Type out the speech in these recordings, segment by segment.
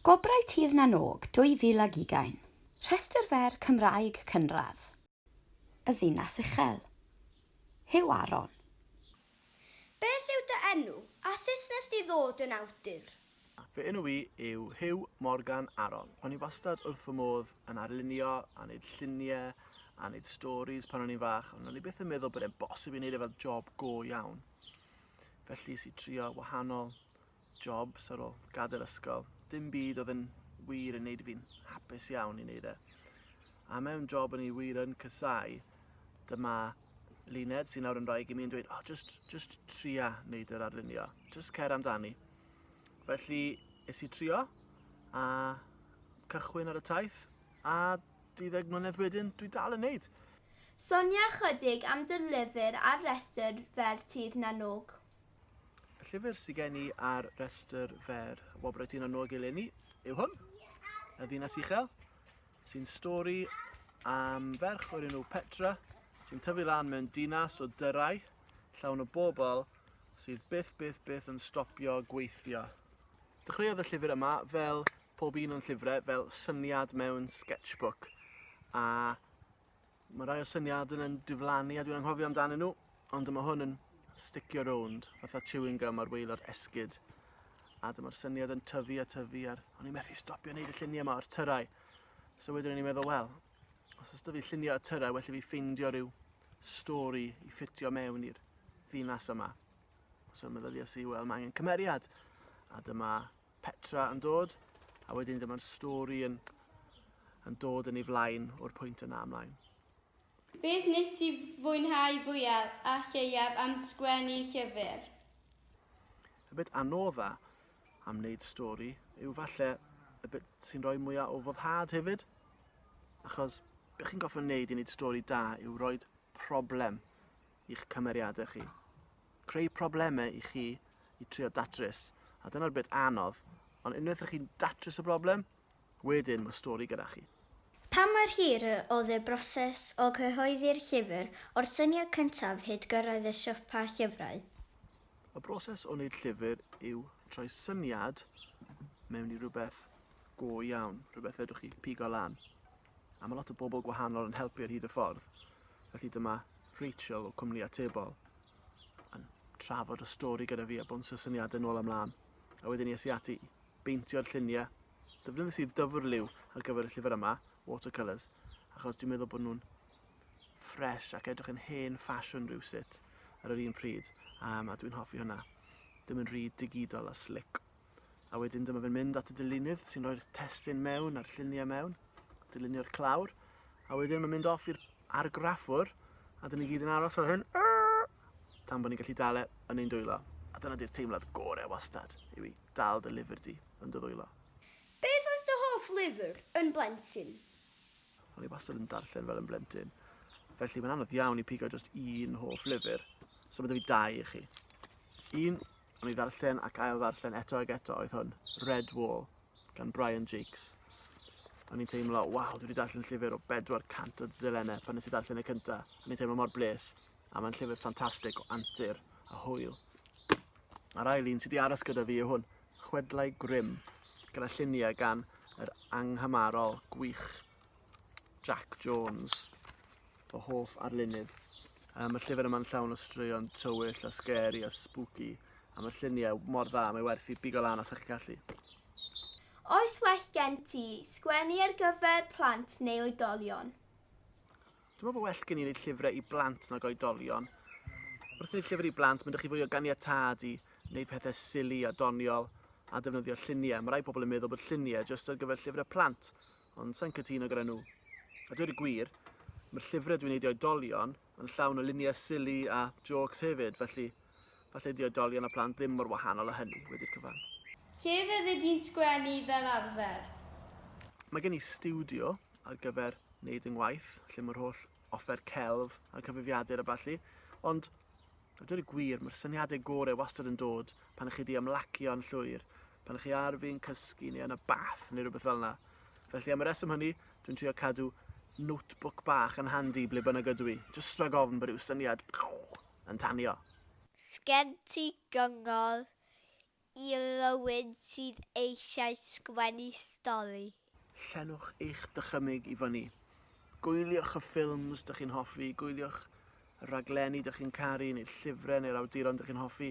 Gwobrau Tir na n-Og 2020, Rhestr fer Cymraeg cynradd y ddinas uchel. Huw Aron. Beth yw dy enw, a sut nes di ddod yn awdur? Fy enw i yw Huw Morgan Aron. O'n i wastad wrth fy modd yn arlunio a neud llunie a neud storis pan o'n i'n fach ond o'n i byth yn meddwl bod e'n bosib i neud e fel job go iawn. Felly es i trio wahanol jobs ar ôl gadael ysgol. Dim byd oedd yn wir yn neud fi'n hapus iawn i neud e. A mewn job o'n i wir yn cysau, dyma Luned sy'n nawr yn rhaeg i mi yn dweud, oh, just, just tria neud yr arlunio, just cer amdani. Felly, es i trio, a cychwyn ar y taith, a 12 mlynedd wedyn, dwi dal yn neud. Sonia chydig am dy lyfr ar restr fer Tir na n-Og. Y llyfr sydd gen i ar restr fer Wobrau Tŷ na Nôg eleni yw hwn, Y Ddinas Uchel, sy'n stori am ferch o'r enw Petra sy'n tyfu lan mewn dinas o dyrau llawn o bobl sydd byth, byth, byth yn stopio gweithio. Dechreuodd y llyfr yma fel pob un o'n llyfrau, fel syniad mewn sketchbook, a Mae rhai o syniadau yn diflannu a dwi'n anghofio amdanyn nhw, ond dyma hwn yn sticio rownd, fatha chewing gum ar waelod esgyd. A dyma'r syniad yn tyfu a tyfu, a'r o'n i'n methu stopio wneud y lluniau yma o'r tyrau. So wedyn o'n i'n meddwl, wel, os ys fi lluniau y tyrau, well i fi ffeindio rhyw stori i ffitio mewn i'r ddinas yma. So meddyliau si, wel, mae angen cymeriad. A dyma Petra yn dod, a wedyn dyma'n stori yn, yn dod yn ei flaen o'r pwynt yna ymlaen. Beth nes ti fwynhau fwyaf a lleiaf am sgwennu llyfr? Y bit anodda am wneud stori yw falle y bit sy'n rhoi mwyaf o foddhad hefyd. Achos beth chi'n goffa wneud i wneud stori da yw rhoi problem i'ch cymeriadau chi. Creu problemau i chi i trio datrys, a dyna'r bit anodd, ond unwaith ych chi'n datrys y broblem, wedyn mae stori gyda chi. Pa mor hir y oedd y broses o gyhoeddi'r llyfr o'r syniad cyntaf hyd gyrraedd y siopa llyfrau? Y broses o wneud llyfr yw troi syniad mewn i rhywbeth go iawn, rhywbeth fedrwch chi pigo lan. A mae lot o bobl gwahanol yn helpu ar hyd y ffordd. Felly dyma Rachel o Cwmni Atebol yn trafod y stori gyda fi a bwnsio syniadau nôl amlaen. A wedyn es i ati i beintio'r lluniau. Dyfnyddes i'r dyfr liw ar gyfer y llyfr yma, watercolours, achos dwi'n meddwl bod nhw'n ffres ac edrych yn hen ffasiwn rhywsut ar yr un pryd, um, a dwi'n hoffi hwnna. Ddim yn rhy digidol a slick. a wedyn dyma fe'n mynd at y dilynydd sy'n rhoi'r testyn mewn a'r lluniau mewn, dilynio'r clawr, a wedyn mae'n mynd off i'r argraffwr, a dyn ni gyd yn aros fel hyn, tan bod ni'n gallu dal e yn ein dwylo. A dyna di'r teimlad gorau wastad, yw i dal dy lyfr di yn dy ddwylo. Beth oedd dy hoff lyfr yn blentyn? O'n i wastad yn darllen fel yn blentyn. Felly mae'n anodd iawn i pigo just un hoff lyfr. So mae 'da fi dau i chi. Un Am i ddarllen ac ail ddarllen eto ag eto oedd hwn, Red Wall, gan Brian Jakes. O'n i'n teimlo, waw, dwi wedi darllen llyfr o 400 o dudalennau pan nes i darllen y cyntaf. O'n i'n teimlo mor bles, a mae'n llyfr ffantastig o antur a hwyl. A'r ail un sydd wedi aros gyda fi yw hwn, Chwedlau Grim, gyda lluniau gan yr anghymarol gwych Jac Jones, fy hoff arlunydd. Um, mae'r llyfr yma'n llawn o straeon tywyll a scary a spooky, a mae'r lluniau mor dda, mae werth i bigo lan os ydych chi'n gallu. Oes well gen ti sgwennu ar gyfer plant neu oedolion? Dwi'n meddwl bod well gen i wneud llyfrau i blant nag oedolion. Wrth wneud llyfr i blant, mae'n chi fwy o ganiatad i wneud pethau sili a doniol a defnyddio lluniau. Mae rai pobl yn meddwl bod lluniau jyst ar gyfer llyfrau plant, Ond sa i'n cytuno gyda nhw. A dweud y gwir, mae'r llyfrau dwi'n eu dioedolion yn llawn o luniau silly a jôcs hefyd, felly falle ydy oedolion a plant ddim mor wahanol â hynny, wedi'r cyfan. Lle fyddi di'n sgwennu fel arfer? Mae gen i stiwdio ar gyfer wneud yng ngwaith, lle mae'r holl offer celf a'r cyfrifiadur a ballu, ond a dweud y gwir, mae'r syniadau gorau wastad yn dod pan chi di ymlacio yn llwyr, pan chi ar fin cysgu neu yn y bath neu rhywbeth fel yna. Felly am y reswm hynny, dwi'n trio cadw notebook bach yn handi ble bynnag ydw i, jyst rhag ofn bod rhyw syniad yn tanio. Sgen ti gyngor i rywun sydd eisiau sgwennu stori? Llenwch eich dychymyg i fyny. Gwyliwch y ffilms dych chi'n hoffi, gwyliwch y rhaglenni dych chi'n caru neu'r llyfrau neu'r awduron dych chi'n hoffi,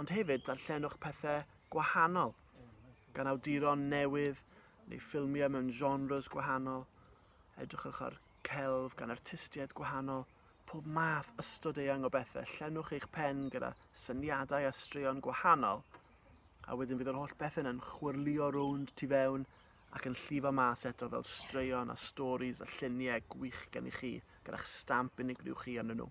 ond hefyd darllenwch pethau gwahanol gan awduron newydd neu ffilmiau mewn genres gwahanol. Edrychwch ar celf gan artistiaid gwahanol, pob math ystod eang o bethau. Llenwch eich pen gyda syniadau a straeon gwahanol. a wedyn fydd yr holl bethau yn chwyrlio rownd tu fewn ac yn llifo mas eto fel straeon a stories a lluniau gwych gen i chi gyda'ch stamp unigryw chi arnyn nhw.